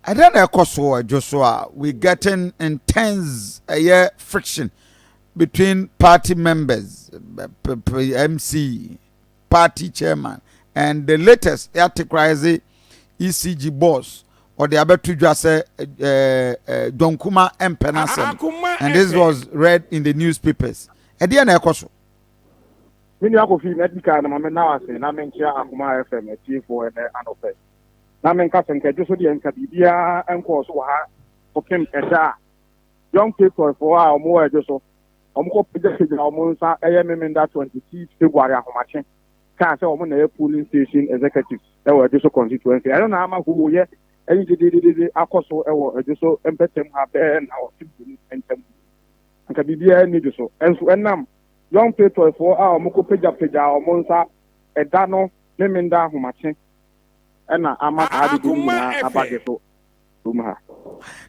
Ɛdɛn na ɛkɔ so wɔ dwo so a we getting intense ɛyɛ friction between party members MC party chairman and the latest yɛatekoraɛze ECG boss ɔde abɛto dwa sɛ dwankuma mpɛ no asɛm and this was read in the newspapers ɛdeɛ na ɛkɔ so me nua kofi na di kan na me na ase na me nkyia akoma fm atiefoɔ ɛnɛ anɔpɛ na menka sɛ nka dwoso deɛ nka biribiara nkɔɔ so wɔ ha kɔpem ɛda a Young Patriots foɔ a wɔn wɔ ɛdwo so wɔn kɔ pagya pagya wɔn nsa ɛyɛ Memenda 26 February ahomakye kaa sɛ wɔn na ɛyɛ polling station executives ɛwɔ ɛdwo so constituency ɛno na ama hoo yɛ ɛyi dededede akɔ so ɛwɔ ɛdwo so mpɛtam ha bɛɛ na wɔte mmienu ntam nka biribiara nni dwo so ɛnso ɛnam Young Patriots foɔ a wɔn kɔ pagya pagya wɔn nsa ɛda no Memenda ahomakye ɛna ama saa adede no nyinaa aba gye so kurom ha.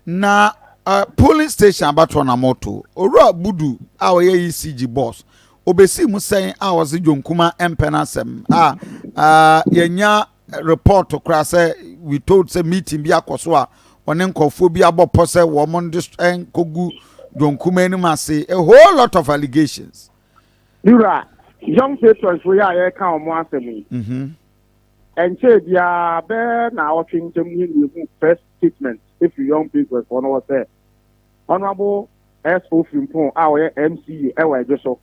Na uh, polling station abatoɔ na moto owura budu a ɔyɛ ecg boss obɛsii mu sɛn a ɔse dwonkuma mpɛ no asɛm a uh, yɛnya report koraa sɛ we told sɛ meeting bi akɔ so a ɔne nkɔfoɔ bi abɔ pɔ sɛ wɔn de nkɔgu dwonkuma anim ase a whole lot of allegations wura young patrons fo yɛ a yɛka wɔn asɛm yi mhm. Ɛnkyɛɛ biara bɛyɛ naawɔtwe ntam no na yɛhuu first statement firi Young Patriots foɔ no hɔ sɛ Honourable S.O. Frimpong a ɔyɛ MCA wɔ Adwo so,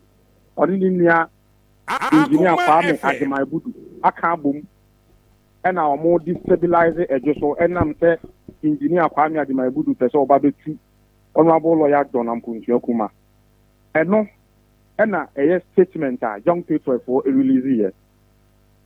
ɔne ne nua Engineer Kwame Agyemang Budu aka abom na wɔn destabilise Adwo so ɛnam sɛ Engineer Kwame Agyemang Budu pɛ sɛ ɔba bɛtu Honourable Lawyer John Ampong Suakumah. Ɛno na ɛyɛ statement a Young Patriots foɔ release yɛ.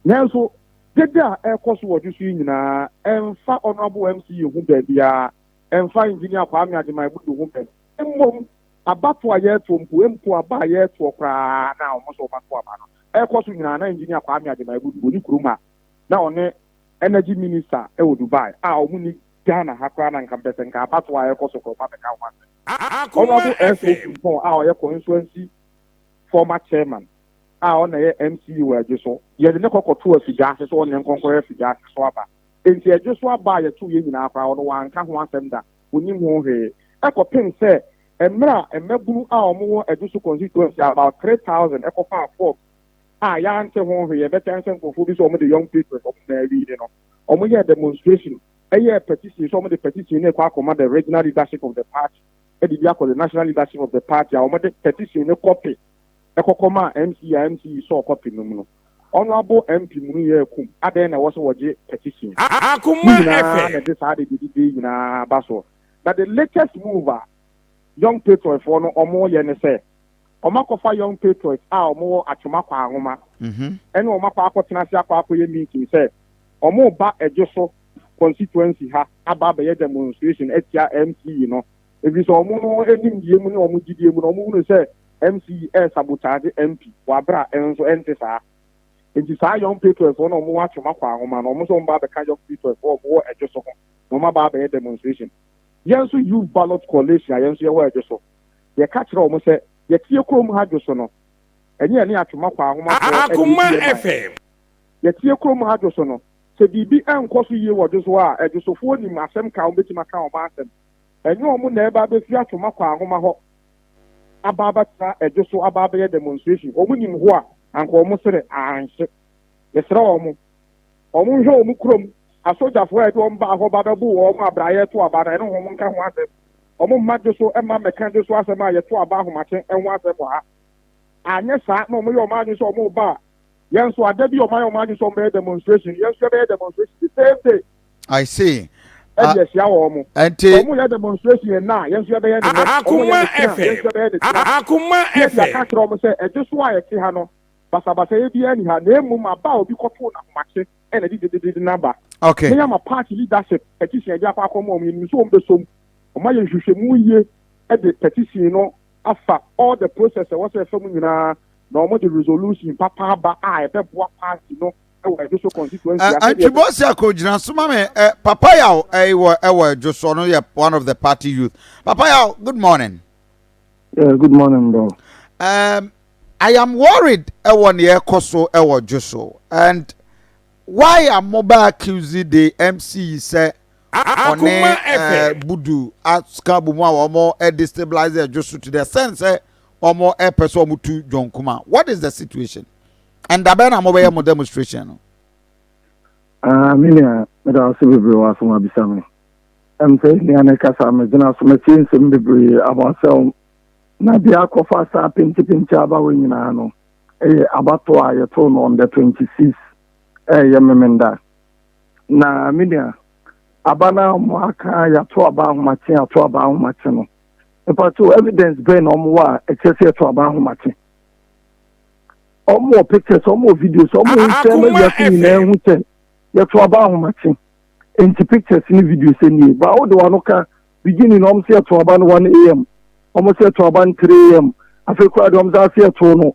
Nanso, dede a ɛrekɔ so wɔ ɔdwo so yi nyinaa, ɛmfa Honourable MCE ho baabiara, ɛmfa Engineer Kwame Agyemang Bodu ho bɛ. Mmom, abatoɔ a yɛreto mpo, mpo aba a yɛretoɔ koraa na wɔn sɛ wɔbɛto aba no, ɛrekɔ so nyinaa na Engineer Kwame Agyemang Bodu wɔ ne kurom a na ɔne Energy Minister wɔ Dubai a wɔn nni Ghana ha koraa na nka mepɛ sɛ nka abatoɔ a ɛrekɔ so nkorɔfoɔ abɛka ho asɛm. Honourable S. Osumpong a ɔyɛ Coinsuancy former Chairman a ɔna yɛ MC wɔ Adwo so. Yɛde ne kɔkɔ too afigya ase sɛ ɔnyɛ nkɔnkɔyɛ afigya ase so aba. Enti Adwo so aba a yɛtoo yɛn nyinaa koraa ɔno wanka ho asɛm da, ɔnim ho hwee. Ɛkɔpem sɛ mmerɛ a mmabunu a wɔwɔ Adwo so constituency about three thousand ɛkɔfaa form a yɛante ho hwee, ɛbɛkyɛ ara sɛ nkorɔfoɔ bi sɛ wɔde young patriots wɔn nyinaa wiini no, wɔyɛɛ demonstration yɛɛ petition sɛ wɔde petition no rekɔ akɔma the regional leadership of the party de bi akɔ the national leadership of the party a wɔde petition no kɔpe kɔ kɔ maa MC a MC yi sɔɔ kɔpe no mu no, ɔno abo MP mu no yɛɛ komm, adɛn na ɛwɔ sɛ wɔgye petition? Ne nyinaa na ɛde saa adedidedee nyinaa ba soɔ. Na the latest move a Young Patriots foɔ no wɔn yɛ ne sɛ, wɔn akɔfa Young Patriots a wɔn wɔ Atwoma Kwaahoma ɛne wɔn akɔ akɔ tena ase akɔ akɔ yɛ meeting sɛ wɔn reba Ɛdwoso constituency ha aba abɛyɛ demonstration atia MC yi no. ɛfiri sɛ wɔn no nimdeɛ mu ne wɔn gyidie mu no wɔn hunu sɛ MC ɛresabotaagye MP wɔ aberɛ a ɛnso ɛnte saa. Enti saa Young Patriots foɔ no wɔn atwe wɔn akɔ ahoma no wɔn nso wɔn ba abɛka Young Patriots foɔ wɔn wɔ Ɛdwo so ho na wɔn aba abɛyɛ demonstration. Yɛn nso Youth Ballot Coalition a yɛn nso yɛwɔ Ɛdwo so yɛka kyerɛ wɔn sɛ yɛtie kurom ha Dwo so no ɛnyɛ yɛne atwe wɔn akɔ ahoma foɔ ɛna yɛdi yɛn man. Yɛtie kurom ha Dwo so no sɛ biribi ɛnkɔ so yie wɔ Dwo so a Ɛdwo so foɔ nim asɛm ka wɔn bɛtumi aka wɔn asɛm. Ɛnyɛ wɔn na ɛreba abɛsi atwoma kɔ ahoma hɔ aba abɛtena ɛdwo so aba abɛyɛ demonstration. Wɔn nim hɔ a, anka wɔn sene anhye. Yɛsrɛ wɔn, wɔn nhwɛ wɔn kurom asogyafoɔ a ɛde wɔn baa hɔ ba bɛboo wɔn a bra yɛreto aba no, ɛne wɔn nka ho asɛm. Wɔn mma dwo so mma mmɛka dwo so asɛm a yɛto aba ahomakye ho asɛm wɔ ha. Anyɛ saa na wɔyɛ wɔn adwene sɛ wɔreba a, Yɛn nso ada bi ɔman ɔman adwene sɛ ɔmo bɛyɛ demonstration yɛn nso yɛbɛyɛ demonstration the same day. I see. Ɛde ɛhyia wɔ ɔmo. Ɛnti. Ɔmo yɛ demonstration yɛn na yɛn nso yɛbɛyɛ ne nɛ. Ɔmo yɛ ne kyena yɛn nso yɛbɛyɛ ne kyena. Akuma FM. Yɛde aka akyerɛ ɔmo sɛ ɛde so a yɛte ha no basabasayɛ biara nni ha na emom aba a obi kɔtow n'ahomakye ɛna ɛde gyedegyede no aba. Okay. Yɛn ama party leadership petition yɛde akɔ akɔma ɔmo yɛnim sɛ ɔmo bɛsɔ mu. Ɔmo ayɛ nhwehwɛmu yie ɛde petition no afa all the process a ɛwɔ sɛ ɛfa mu nyinaa na wɔde resolution papa aba a ɛbɛboa party no wɔ ɛdwoso constituency a sɛdeɛ Antibɔsi akogyina so ma me eh, papa yaw eh, wɔ eh, wɔ ɛdwoso no yɛ one of the party youth papa yaw good morning yeah, good morning bro um, I am worried ɛwɔ nea ɛkɔ so ɛwɔ dwoso and why am mo ba accuse the MC sɛ ɔne budu aka bɔ mu a wɔn destabilize ɛdwo so to the sense sɛ wɔn pɛ sɛ wɔn tu john kuma what is the situation ɛndabɛn na wɔn bɛyɛ mo demonstration no. Ah, me nua meda wo se bebree wɔ asɛm abisa me ɛm sɛ nua ne kasa megyina so matie nsɛm bebree aba asɛm na deɛ akɔfa saa pentepente aba wɔ nyinaa no ɛyɛ abato a yɛtoo no on the 26 ɛyɛ memenda Na me nua, aba no a wɔn aka yɛato aba ahomakye yɛato aba ahomakye no, mpato evidence bɛn na wɔn wɔ a ɛkyerɛ sɛ yɛto aba ahomakye? Wɔn wɔ pictures, wɔn wɔ videos, wɔn wɔ nsɛm ma wiase nyinaa ehu sɛ yɛto aba ahomakye. Nti pictures ne videos nie. Ba wo de wɔn ano ka beginning wɔn sɛ yɛto aba no 1 am, wɔn sɛ yɛto aba no 3 am, afei koraa de wɔn sɛ ase yɛto no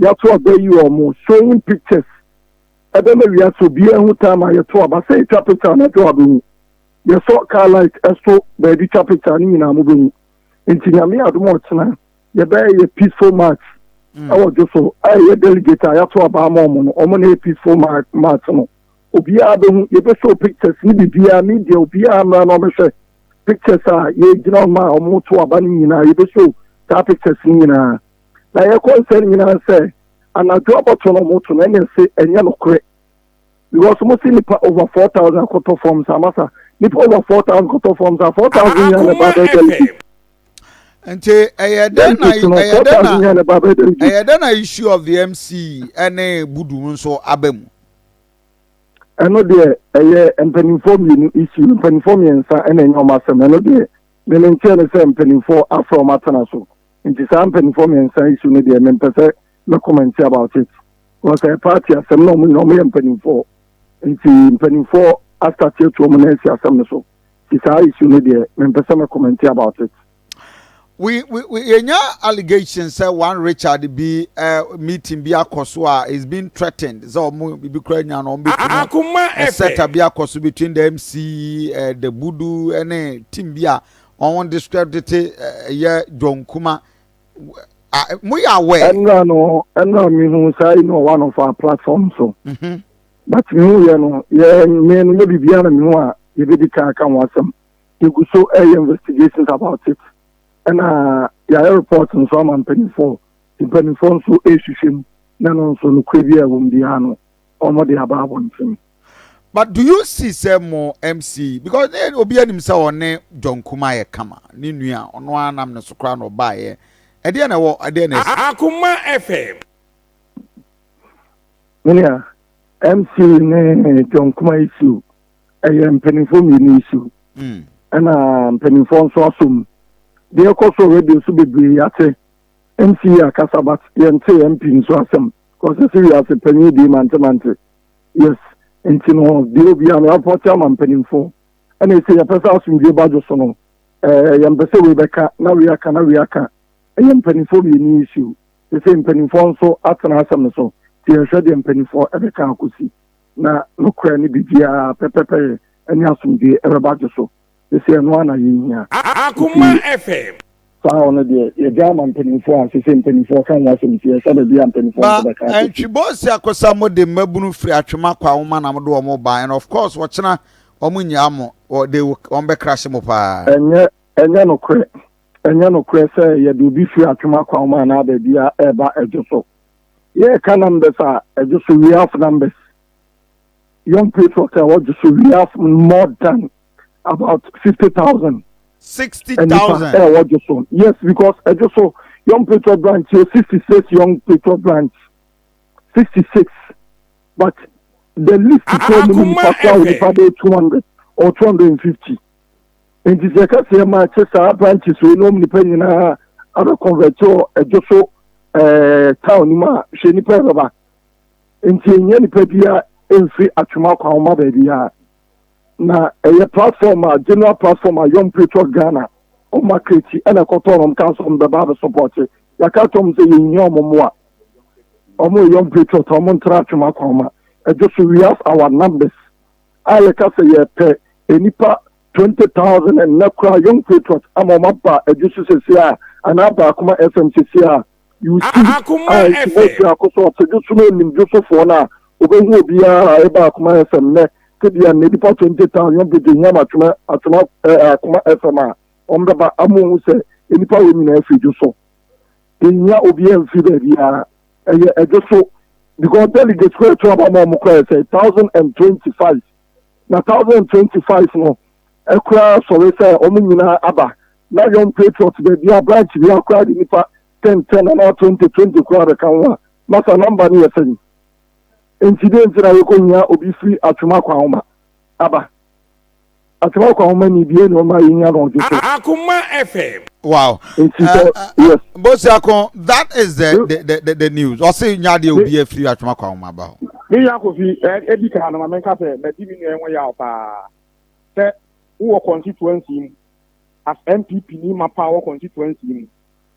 Yɛato aba ayi wɔn showing pictures ɛbɛma wiase obiara hu time a yɛto aba. Sɛ yɛtwa picture anadwo a bɛhu. Yɛsɔ car light ɛso baabi twa picture ne nyinaa mobɛhu. Nti Nyame adom a ɔkyena yɛbɛyɛ yɛ peaceful march ɛwɔ dwoso a ɛyɛ delegate a yɛato aba ama wɔn no wɔn na ɛyɛ peaceful march no. Obiara bɛhu. Yɛbɛ show pictures ne biribiara media obiara mmra na ɔbɛhwɛ pictures a yɛgyina ma a wɔto aba no nyinaa yɛbɛ show saa pictures no nyinaa. Na yɛkɔ nsɛm no nyinaa sɛ anadwo abɔto na ɔmo to no ɛne se ɛnyɛ nokorɛ because ɔmo se nipa over four thousand akɔtɔ forms a masa nipa over four thousand kɔtɔ forms a four thousand nyinaa na ɛba abɛyɛ delegate. Nti ɛyɛ dɛn na ɛyɛ dɛn na ɛyɛ dɛn na issue of the MC ɛne budu nso aba mu. ɛno deɛ ɛyɛ mpanimfoɔ mmienu issue mpanimfoɔ mmiɛnsa ɛna ɛnyɛ wɔn asɛm ɛno deɛ mene nkyɛn no sɛ mpanimfoɔ afrɛ wɔn atena so Nti saa mpaninfoɔ mmiɛnsa yi su no deɛ mempɛ sɛ mɛ commenti about it because ɛyɛ party asɛm na wɔn nyinaa wɔyɛ mpaninfoɔ nti mpaninfoɔ astarte atu wɔn nan asi asɛm no so nti saa issue no deɛ mempɛ sɛ mɛ commenti about it. We, we, we, yɛnya allegations sɛ one Richard bi eh, meeting bi akɔ so a is being threatened sɛ ɔmo bibi kora nya no ɔmo bɛku no ɛsɛta bi akɔ so between the MC eh, the budu ne team bi a Wɔn describe the te eh, yɛ John Kuma. Ah, eh, mo yɛ aware. Ɛnura no ɛnura mi hu saa yi no one of our platform so. Mm -hmm. But mi hu yɛ no yɛ mi no yɛ bibi ana mi hu a yɛ bɛ di kan aka ho asɛm. Yɛ gu so ɛyɛ investigations about it. Ɛna yɛayɛ report nso ama mpanyinfoɔ. Mpanyinfoɔ nso ɛrehwehwɛ mu na no nso no kura bi a ɛwɔ mu biara no wɔn de aba abɔnten. but do you see sɛ mo mc because ne obi anim sɛ ɔne john kuma yɛ kama ne nua ɔno ara nam ne so koraa na ɔbaeɛ ɛdeɛ na ɛwɔ ɛdeɛ na ɛsi. akuma fm. menua mc ne john kuma issue ɛyɛ mpanimfoɔ mmienu issue ɛna mpanimfoɔ nso aso mu deɛ ɛkɔ so radio so bebree yɛate mc akasa but yɛnte mp nso asɛm kɔsɛ sɛ wiase panyin dii mantemante Yes nti no deɛ obiara no yɛafa ɔkyɛ ama mpanimfo ɛna ɛsɛ yɛpɛ sɛ asomdwie ba dwo so no ɛɛ yɛmpɛ sɛ wei bɛka na wei aka na wei aka ɛyɛ mpanimfoɔ mmienu issue ɛsɛ mpanimfoɔ nso atena asɛm no so nti yɛhwɛ deɛ mpanimfoɔ ɛbɛka akɔsi na nokorɛ no biribiara pɛpɛpɛyɛ ɛne asomdwie ɛbɛba dwo so. sisi ɛno ara na yɛhia. Akoma FM. saa hɔ no deɛ yɛgya ama mpanimfoɔ a sisi mpanimfoɔ ka ho asɛm nti ɛsɛ baabi a mpanimfoɔ nso bɛka asɛm. Ntwibɔsi akosa mo de mmabunu firi atwema kɔ awoma na mo de wɔn ba and of course ɔkyena wɔn nyaa mo they will wɔn bɛ crash mo paa. Ɛnyɛ ɛnyɛ nokorɛ ɛnyɛ nokorɛ sɛ yɛde obi firi atwema kɔ awoma anaa baabi a ɛreba ɛdwoso yɛreka numbers a ɛdwoso we have numbers. young patriots a wɔgye so we have more than about sixty thousand. sixty thousand ɛnipa ɛwɔ gye so yes because ɛgye so young patriot branch yɛ sixty six young patriot branch sixty six but the list kura mu nipa kura wɔ nipa bɛyɛ two hundred or two hundred and fifty nti sɛ ɛka sɛ ɛma ɛkyɛ saa branches wɔ ɛnum nipa nyinaa abɛ convert wɔ ɛgye so ɛɛ town mu a hwɛ nipa ɛbɛba. Enti enhia nipa biara mfi atwom akwan ho mma baabiara. Na ɛyɛ platform a general platform a Young Patriots Ghana wɔn ma Kreti ɛna ɛkɔtɔɔ no wɔn kaa sɛ wɔn bɛba abɛ sɔpɔte. Yɛaka akyerɛ wɔn sɛ yɛn hia wɔn mmoa. Wɔn yɛ Young Patriots a wɔn ntra atwom akwan ho ma. Ɛdwo so we have our numbers a yɛka sɛ yɛpɛ nnipa twenty thousand ɛnnɛ koraa Young Patriots ama wɔn aba ɛdwo so sɛsi a anaa baako ma FM sɛsi a. You see, Ah, akoma ah, nti mo FM. hwɛ akɔsɔ ɔsɛdwo so no onim dwosofoɔ no a obehu obiara a ɛba akoma FM nnɛ tebea nnɛ nipa 20,000 yɔn bɛgye hiam atwema atwema eh, akoma FM a wɔn bɛba amo hu sɛ nipa wɔ nyinaa firi dwoso yɛhia obiara mfiri baabiara ɛyɛ ɛdwoso because delegates kɔ ɛto aba ma wɔn kɔ ɛsɛ 1025 na 1025 no koraa sɔre sɛ wɔn nyinaa aba. Na Young Patriots baabiara, branch biara koraa de nnipa 10 10 anaa 20 20 koraa bɛka ho a, na saa number no yɛ sɛn? Enti dɛn nti na yɛkɔhia obi firi Atwema Kwahoma aba? Atwema Kwahoma ni bie na ɔma yɛhia no ɔdwo so. Akuma FM. Wow. Nti Uh, sɛ, uh, uh, yes, Bosia Kon, that is the, the, the, the, the news. Ɔse nyadeɛ obi afiri atwoma kwa ho ma ba hɔ. Me nua Kofi, edi kan no ma menka sɛ madi me nua yi ho yaw paa. Sɛ wowɔ constituency mu, as NPP ni mapa a ɔwɔ constituency mu,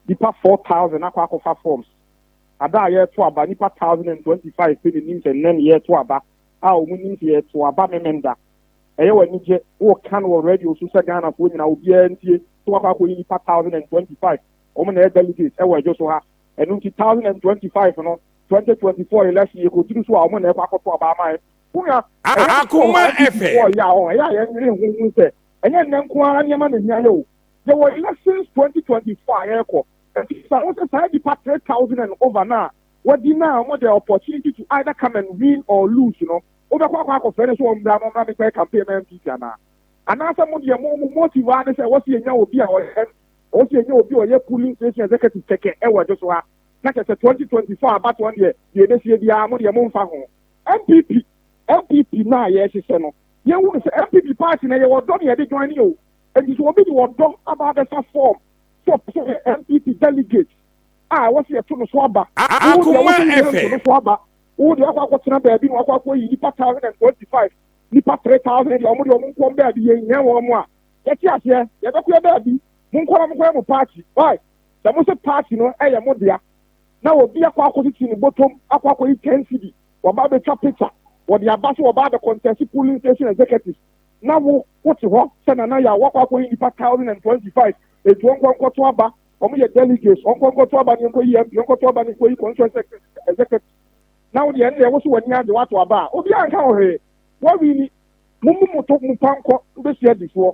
nnipa 4,000 akɔ akɔfa forms. Ada a yɛreto aba, nnipa thousand and twenty five pɛ na enim sɛ nnɛ na yɛreto aba, a wɔnim sɛ yɛreto aba Memenda. Ɛyɛ wo anigye, woreka no wɔ radio so sɛ Ghanafoɔ nyinaa obiara ntie, sɛ wɔakɔ akɔyi nnipa thousand and twenty five, wɔn na ɛyɛ delegates wɔ adwo so ha. Ɛno nti thousand and twenty five no, Twenty twenty four election yɛ kotiri so a ɔmo na ɛkɔ akɔto ɔbaa ama yɛ. Wonua, ɛyɛ asɔ wɔ ha NDC wɔ yɛ a hɔ ɛyɛ a yɛn nwene ho hu sɛ ɛnyɛ nnɛ nko ara nneɛma na hia yɛ o. Yɛ wɔ elections twenty twenty four a yɛkɔ. Ɛfiri sa ho sɛ saa nnipa three thousand and over no a wadi na ɔmo dɛ opportunity to either come and win or lose no wo bɛkɔ akɔ akɔ frɛ no sɛ ɔmbra mo mmra me kɔyɛ campaign ma NPP anaa? Anaa sɛ mo deɛ mo mo motive ara ne sɛ ɛwɔ sɛ yɛnya obi a ɔyɛ ɛwɔ sɛ yɛnya obi a ɔyɛ polling station executive kɛkɛ ɛwɔ ɛdo so ha. na kyɛ sɛ 2024 abatoɔ no deɛ deɛ ɛbɛsie biara mo deɛ momfa ho. NPP NPP no a yɛrehyehyɛ no yɛnhu no sɛ NPP party na yɛwɔ ɔdɔ na yɛde joine o nti sɛ obi de ɔdɔ aba abɛfa form sɛ ɔpɛ sɛ ɔyɛ NPP delegate a ɛwɔ sɛ yɛto no so aba wo deɛ wo so yɛnto no so aba wo deɛ wakɔ akɔtena baabi na wakɔ akɔyi nipa 1025 nipa 3000 deɛ ɔmo deɛ ɔmo nkɔm baabi yɛnhia wɔn a yɛte aseɛ yɛbɛkɔ yɛ baabi monkɔ na monkɔyɛ mo party why Sɛ mo se party no yɛ mo dea na obi akɔ akɔtete ne bɔtɔm akɔ akɔyi ten cedi wɔba abɛtwa picture wɔde aba sɛ wɔba abɛkɔntɛse polling station executives na wo wote hɔ sɛ Nana Yaw woakɔ akɔyi nnipa thousand and twenty five enti ɔnkɔ nkɔto aba wɔn yɛ delegates ɔnkɔ nkɔto aba ne nkɔyi MP ɔnkɔto aba ne nkɔyi constituency executive na wo deɛ ɛnna ɛwo so w'ani agye woato aba a obiara nka wo hwee wɔwini mo mu mo to mo pa nkɔ wobɛsua di soɔ.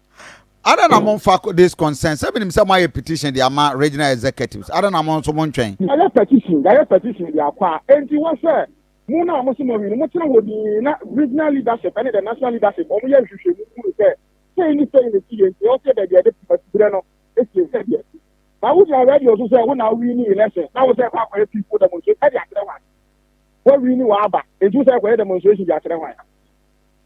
Ada na mo nfa this concern sɛ minim sɛ mo ayɛ petition de ama regional executives ada na mo nso mo ntwɛn. Yɛayɛ petition yɛayɛ petition de akɔ a enti wɔ sɛ mo na mo se mo awi no mo tena hɔ din na regional leadership ɛne the national leadership wɔn yɛ nhwehwɛ mu hunu sɛ sɛyi ne sɛyi ne si yɛ nti ɛwɔ sɛ yɛbɛ deɛ de patubrɛ no esie sɛ deɛ si na wo gyina radio so sɛ wo na awi ne election na wo sɛ ɛkɔ akɔyɛ peaceful demonstration ɛde akyerɛ hwan wɔawi ne wɔaba enti wo sɛ ɛkɔyɛ demonstration de akyerɛ hwan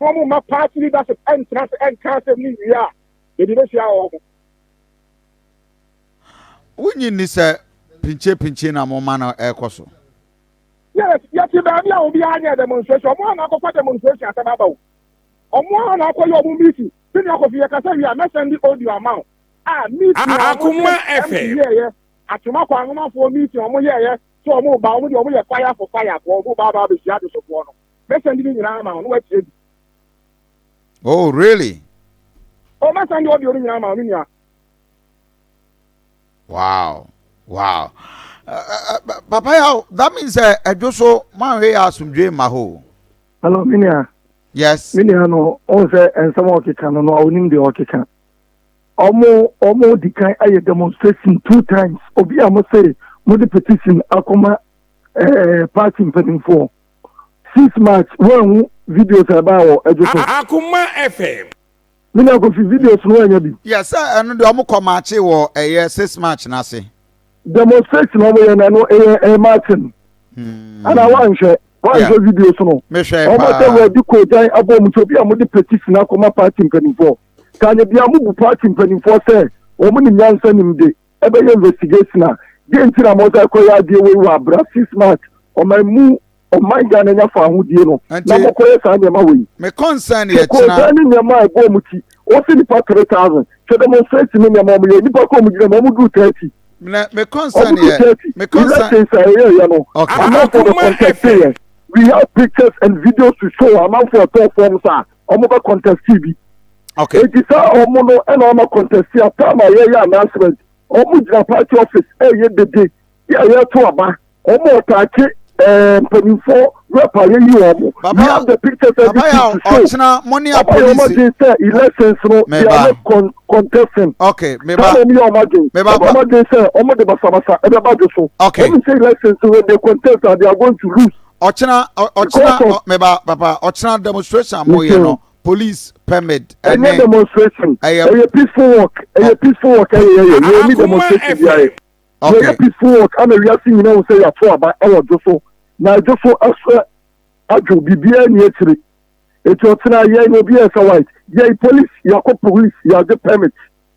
na wɔn mma party leadership ɛntena ase ɛnka asɛm no nwie a, baabi bɛhyia wɔn ho. Wonnye nni sɛ pinkyepinkye na mo ma no ɛrekɔ so? Yes, yɛte baabi a obiara nyɛɛ demonstration, wɔn a na akɔfa demonstration asɛm aba o, wɔn a na akɔyɛ wɔn meeting, sɛnea Kofi yɛkasa wie a mɛ send audio ama wo a meeting a wɔn ne MP yɛɛyɛ, Atwoma Kwan Nwomafoɔ meeting a wɔn yɛɛyɛ sɛ wɔn ba, wɔn deɛ wɔn yɛ fire for fire foɔ, wɔn ba aba abɛhyia adesofoɔ no. Mɛsan di ne nyinaa ama wo na woatie bi. Oh, really? Oh, mɛsan di audio no nyinaa ama wo, me nua. Wow, wow. Uh, uh, uh, Papa Yaw, that means uh, ɛdwo so manhwɛ yɛ asomdwe mma hɔ. Hello, me nua. Yes. Me nua no, ɔn sɛ nsɛm a ɔkeka no no, ɔnim deɛ ɔkeka. Ɔmo ɔmo di kan ayɛ demonstration two times. Obi a mo sɛ mo de petition akɔma ɛɛ eh, party mpanimfoɔ. six march woanhu videos a ɛbaa wɔ ɛdwo so. akoma fm. me nua kofi videos no anya bi. yɛ sɛ ɛno deɛ ɔmo kɔ maakye wɔ ɛyɛ six march n'ase. demonstration ɔmo yɛ na no ɛyɛ ɛyɛ marching. Hmm. ana wanhwɛ wanhwɛ videos no. mehwɛ paa ɔmo sɛ wɔadi kɔɔgyan abɔ ɔmo so bi a ɔmo de petition akɔma party mpanimfoɔ kanyɛ bi a ɔmo bu party mpanimfoɔ sɛ wɔn ne nyansa nim de. ɛbɛyɛ investigation a deɛ nti na mɔsan kɔyɛ adeɛ wei wɔ abira six months ɔman mu ɔman ghana nya fa ahodie no na mɔkɔyɛ saa nneɛma wei me concern yɛ kyena kɔɔ ne nneɛma a ɛbɔ ɔmo ti ɔsi nipa three thousand kyɛ demonstrate ne nneɛma ɔmo yɛ nipa kɔ ɔmo gyina mu ɔmo duru thirty na me concern yɛ me concern elections a ɛyɛ yɛ no amanfoɔ bɛ contest yɛ we have pictures and videos to show amanfoɔ ɛtɔɔ fɔm saa. wɔn bɛ contesti bi okay eti sɛ wɔn no ɛna wɔn akɔntɛsi a taama a yɛyɛ announcement wɔn gyina party office ɛyɛ dede yɛ a yɛto aba wɔn a ɔtaakye ɛɛ mpanyinfoɔ rep a yɛyi wɔn we Papa, have the pictures and papa yà videos to show ọ̀kyinà mo ní ọba yɛ wɔn apolisi adwene sɛ elections no they Meba. are not con contesting ok saa meba na wɔn yɛ wɔn adwene Meba wɔn pa. wɔn adwene sɛ wɔn de basabasa ɛbɛba do so Okay. wɔn sɛ elections when they contest ah they are going to lose. ɔkyena ɔkyena mɛba papa ɔkyena demonstration mo yɛ no police permit ɛnɛ ɛyɛ demonstration ɛyɛ peaceful work ɛyɛ peaceful work ɛyɛ ɛyɛ yɛ ɛni demonstration bi ayɛ ɛyɛ peaceful work ɛna wiase nyina wɔn sɛ yɛato aba ɛwɔ dwo so na ɛdwo so ɛsɛ adwo biribiara ni akyire etu ɔkyena yɛn obi ɛsɛ white yɛn police yɛakɔ police yɛagye permit.